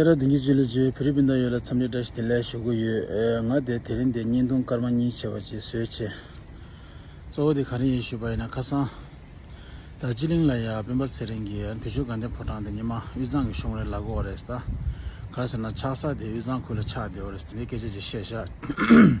ཁྱེད་རང་དེང་གི་སྤྱི་ལོ་བཅུའི་ཕི་རི་པིན་དང་ཡོད་ལ་འཚམས་འདྲི་བཀྲ་ཤིས་བདེ་ལེགས་ཞུ་གི་ཡོད། ང་དེ་དེ་རིང་དེ་བརྙན་ཐུང་སྐར་མ་གཉིས་བྱས་པ་ཅིག་བཟོས་བྱས། གཙོ་བོ་དེ་ག་རེ་ཡིན་ཞུས་པ་ཡིན་ན་ཁ་སང། ད་སྤྱི་གླིང་ལ་ཡ་སྤེན་པ་ཚེ་རིང་གིས་བོད་ཆོས་དགའ་ལྡན་ཕོ་བྲང་དེ་ཉི་མ་དབུས་གཙང་གི་གཞུང་རེད་ལབ་དགོས་བ་རེད་ད། ག་རེ་ཟེར་ན་ཆགས་ས་དེ་དབུས་གཙང་ཁུལ་ལ་ཆགས་བསྡད་བ་རེད་དེ་འདྲའི་སྐད་ཆ་ཅིག་བཤད་བཞག།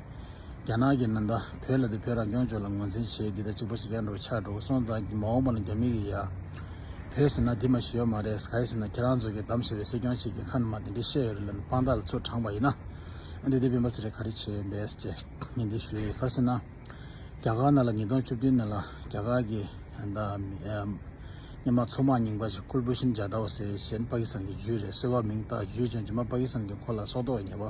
རྒྱ་ནག་གི་ནང་དང་བོད་ལ་དེ་བོད་རང་སྐྱོང་ལྗོངས་ལ་ངོས་འཛིན་བྱེད་འདི་ལྟར་གཅིག་པ་བྱེད་མཁན་འགྲོ་ཆགས་འགྲོ་གི་སོང་ཙང་མ་འོངས་པ་ན་རྒྱ་མི་གི་ཡ། བོད་ཟེར་ན་འདི་མ་ཞི་ཡོ་མ་རེད་ཟེར་ན་ཁྱེད་རང་ཚོ་གི་གདམ་ཞེས་པའི་སྲིད་སྐྱོང་གཅིག་གི་ཁ་ན་མ་དེ་འདྲས་བཤད་ཡོད་རེད་ལབ་ནས་དཔང་རྟགས་ལ་ཚུར་དྲངས་པ་ཡིན་ན། འདི་ལྟའི་བེམ་པོ་ཚེ་རིང་ག་རེ་བྱེད་འབས་ཅེས་ཉིན་འདི་ཞུ་ཡི་ཡོད་ག་ཟེར་ན། རྒྱ་གར་ནང་ལ་ཉིས་སྟོང་བཅུ་བདུན་ནང་ལ་རྒྱ་གར་གི་མི་མང་ཚོ་མང་རྙིང་པ་ཞིག་ཁུར་པོ་ཤིན་ཇཱ་ཏའོ་ཟེར་གཞན་པ་ཀི་སང་གི་ཇུས་རེད་གསོལ་བ་མིང་བཏགས་ཇུས་ཅང་ཇུས་མ་པ་ཀི་སང་གི་འཁོར་ལ་སྲོག་ཐོག་ཉེ་བ།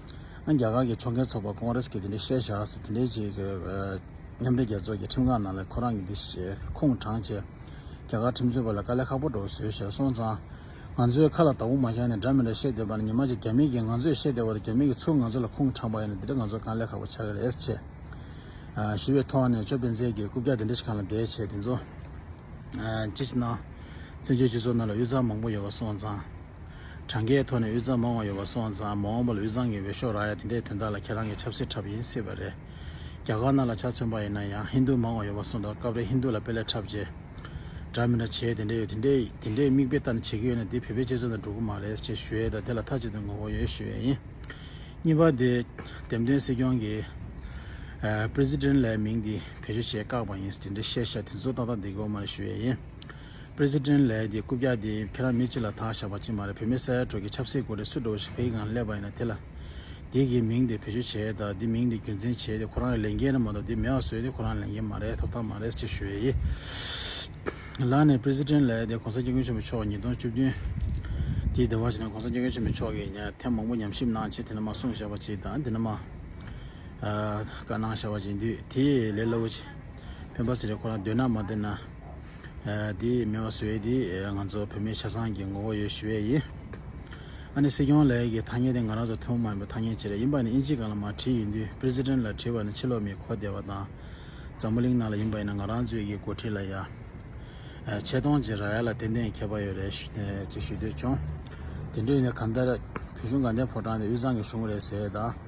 ཨང། རྒྱ་གར་གྱི་ཕྱོགས་འགལ་ཚོགས་པ་ཀོང་རེས་ཀྱིས་དེ་འདྲའི་བཤད་བཞག་ཟེར་དེ་འདྲའི་བྱས་ཀྱི་རེད། མཉམ་འབྲེལ་རྒྱལ་ཚོགས་ཀྱི་ཁྲིམས་ཁང་ནང་ལས་ཁོ་རང་གི་འདི་ཞེས་ཁུངས་དྲངས་བྱས། རྒྱ་གར་ཁྲིམས་རྩོད་པ་ལ་དཀའ་ལས་ཁག་པོ་འགྲོ་བཟོས་བྱས་སོང་ཙང། ང་ཚོའི་ཁ་ལ་དྭོགས་མ་བཞག་ནས་འདྲ་མི་འདྲ་བཤད་སྡོད་པ་ནི་ཉི་མ་གཅིག་རྒྱ་མིས་ཀྱིས་ང་ཚོས་བཤད་བསྡད་པ་དང་རྒྱ་མིས་ཀྱིས་ཚུར་ང་ཚོ་ལ་ཁུངས་དྲངས་པ་ཡིན་ན་དེ་འདྲ་ང་ཚོར་དཀའ་ལས་ཁག་པོ་ཆགས་ཀྱི་རེད་ཟེར་བྱས། ཞུ་བའི་ཐོག་ནས་ཅོ་སྤེན་ཚེ་ཀྱིས་རྐུབ་བཀྱག་དེ་འདྲ་ཞིག་གང་ལ་བསྡད་བྱས་དེ་ཚོ། ཅི་ཞིག་ན། བཙན་བྱོལ་སྤྱི་ཚོགས་ནང་ལ་གཡུ་རྩལ་མང་པོ་ཡོད་པ་སོང་ཙང། གྲངས་ཀའི་ཐོག་ནས་དབུས་གཙང་མང་བ་ཡོད་པ་སོང་ཙང་མ་འོངས་པ་ལ་དབུས་གཙང་གི་འོས་ཤོག་རག་ཡ་དེ་འདྲའི་དོན་དག་ལ་ཁྱེད་རང་གི་ཆབ་སྲིད་འཁྲབ་ཡིན་སྲིད་པ་རེད། རྒྱ་གར་ནག་ལ་ཆ་མཚོན་པ་ཡིན་ན་ཡང་ཧིན་དུ་མང་བ་ཡོད་པ་སོང་ཙང་སྐབས་རེ་ཧིན་དུ་ལ་དཔེ་ལེགས་འཁྲབ་རྗེས། འདྲ་མི་འདྲ་བྱེད་དེ་འདྲ་ཡོད་དེ་འདྲ་དེ་འདྲའི་མིག་དཔེ་ལྟ་ནས་བྱེད་ཀྱི་ཡོད་ན་དེ་བོད་པའི་སྤྱི་ཚོགས་དང་འགྲོ་གི་མ་རེད་ཅེས་ཞུ་ཡས་དང་དེ་ལ་མཐའ་གཅིག་ཏུ་ངོ་བོ་ཡོད་ཞུ་ཡས་ཡིན། གཉིས་པ་དེ། འདེམས་ཐོན་སྲིད་སྐྱོང་གི། President། ལའི་མིང་དེ་བེད་སྤྱོད་བྱེད་བཀག་པ་ཡིན་དེ་འདྲའི་བཤད་བཤད་དེ་ཚོ་ཏག་ཏག་འདི་གོ་མ་རེད་ཞུ་ཡས་ཡིན། President Lee དེ་རྐུབ་བཀྱག་དེ་ཁྱེད་རང་མི་གཅིག་ལ་ཐང་བཞག་པ་གཅིག་མ་རེད་བོད་མི་ས་ཡ་དྲུག་གི་ཆབ་སྲིད་སྐོར་དེ་སུ་འགྲོ་བ་ཞིག་བོད་ཀྱི་ངང་སླེབས་པ་ཡིན་ན་དེ་ལ་དེ་གི་མིང་དེ་བེད་སྤྱོད་བྱས་དང་དེ་མིང་དེ་རྒྱུ་མཚན་བྱས་དེ་ཁོ་རང་གི་ལས་འགན་རེད་མ་གཏོགས་དེ་མེད་བ་བཟོས་དེ་ཁོ་རང་ལས་འགན་མ་རེད་ཐོབ་ཐང་མ་རེད་ཅེས་ཞུ་ཡས་ཡས་ལགས་ནས President Lee དེ་གོང་ས་སྐྱབས་མགོན་ཆེན་པོ་མཆོག་ཉིས་སྟོང་བཅུ་བདུན་དེའི་ཟླ་བ་བཞི་ནང་གོང་ས་སྐྱབས་མགོན་ཆེན་པོ་མཆོག་གིས་ཉའི་ཐེངས་མང་པོ་ཉམས་ཞིབ་གནང་རྗེས་དེ་ནས་མ་གསུངས་བཞག་པ་གཅིག་དང་དེ་ནས་མ་བཀའ་གནང་བཞག་པ་གཅིག་འདུས་དེ་ལས་སླ་བོ་ཆེ་ཕན་པ་ཟེར་རེད་ཁོ་རང་འདོད་ན་མ་འདོད་ན། དེས་མེ་བ་ཟོས་ཏེ་ང་ཚོ་བོད་མིའི་ཆ་ཚང་གི་ངོ་བོ་ཡོད་ཞུ་བས་ཡིན། ཨ་ནི་སྲིད་སྐྱོང་ལགས་ཀྱི་ཐ་སྙད་དེ་ང་རང་ཚོ་ཐུགས་མ་ཡིན་པའི་ཐ་སྙད་ཅིག་རེད་ཡིན་པ་ནི་དབྱིན་ཇི་གང་ལ་མ་བྲིས་ཡིན་དུས President ལ་བྲིས་པ་ནི་ཕྱི་ལོག་མི་གོ་བདེ་བ་དང་འཛམ་བུ་གླིང་ནང་ལ་ཡིན་པ་ཡིན་ན་ང་རང་ཚོའི་ཡི་གོ་བྲིས་ལ་ཡ། ཆེ་མཐོང་ཅིག་ར་ཡ་ལ་ཏན་ཏན་མཁས་པ་ཡོད་རེད་ཅིག་ཞུ་འདོད་བྱུང། དེ་འདྲ་ཡིན་ན་གང་ལྟར་བོད་གཞུང་དགའ་ལྡན་ཕོ་བྲང་དེ་དབུས་གཙང་གི་གཞུང་རེད་ཟེར་ད།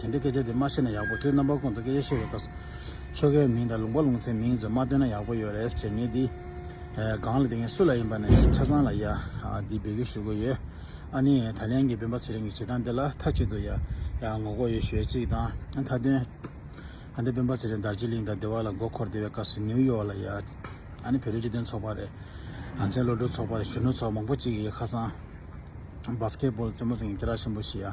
དེ་འདྲའི་སྐད་ཆ་དེ་མ་བཤད་ན་ཡག་པོ་ཁྱོད་རྣམ་པ་ཁོང་དུ་སྐད་ཆ་བཤད་པའི་སྐབས་སུ། ཆོལ་ཁའི་མིང་དང་ལུང་པ་ལུང་ཚན་མིང་ཚོད་མ་སྟོན་ན་ཡག་པོ་ཡོད་རེད་ཟེར་ངེས་འདི། སྒང་ལ་དེ་ངས་སུ་ལ་ཡིན་པ་ནས་ཆ་ཚང་ལ་ཡ། འདི་འབོད་སྐུལ་ཞུ་དགོས་ཡོད། ཨ་ནི་ད་ལན་གྱི་སྤེན་པ་ཚེ་རིང་གི་བྱེད་སྟངས་འདི་ལ་མཐའ་གཅིག་ཏུ་ཡ། ངོ་རྒོལ་ཡོད་ཞུ་ཡ་གཅིག་དང་མཐའ་དོན། ཨ་འདི་སྤེན་པ་ཚེ་རིང་དར་ཅིག་གླིང་དང་སྡེ་བ་ལ་མགོ་འཁོར་བསྡད་པའི་སྐབས་སུ་ནིའུ་ཡོག་ལ་ཡ། ཨ་ནི་བོད་རིགས་སྤྱི་དོན་ཚོགས་པ་རེད། ང་ཚའི་བློ་གྲོས་ཚོགས་པ་རེད་གཞོན་ནུ་ཚོགས་མང་པོ་གཅིག་ཡིན་ཁ་སང། Basketball རྩེད་མོ་ཟེར་མཁན་སྐྱེ་རགས་ཆེན་པོ་ཞིག་ཡ།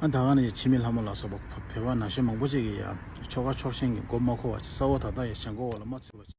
ཨ་ད་ག་ནས་ཡི་ཕྱི་མི་ལྷ་མོ་ལ་སོགས་པ་བོད་པ་ན་གཞོན་མང་པོ་ཅིག་གིས་ཡང་ཆོ་ག་ཕྱོགས་ཞེན་གྱི་མགོ་མ་འཁོར་བ་ཅིག་ས་འོག་ད་ལྟ་ཡང་བྱང་སྒོ་འོག་ལ་མ་ཚུད་པ་ཅིག།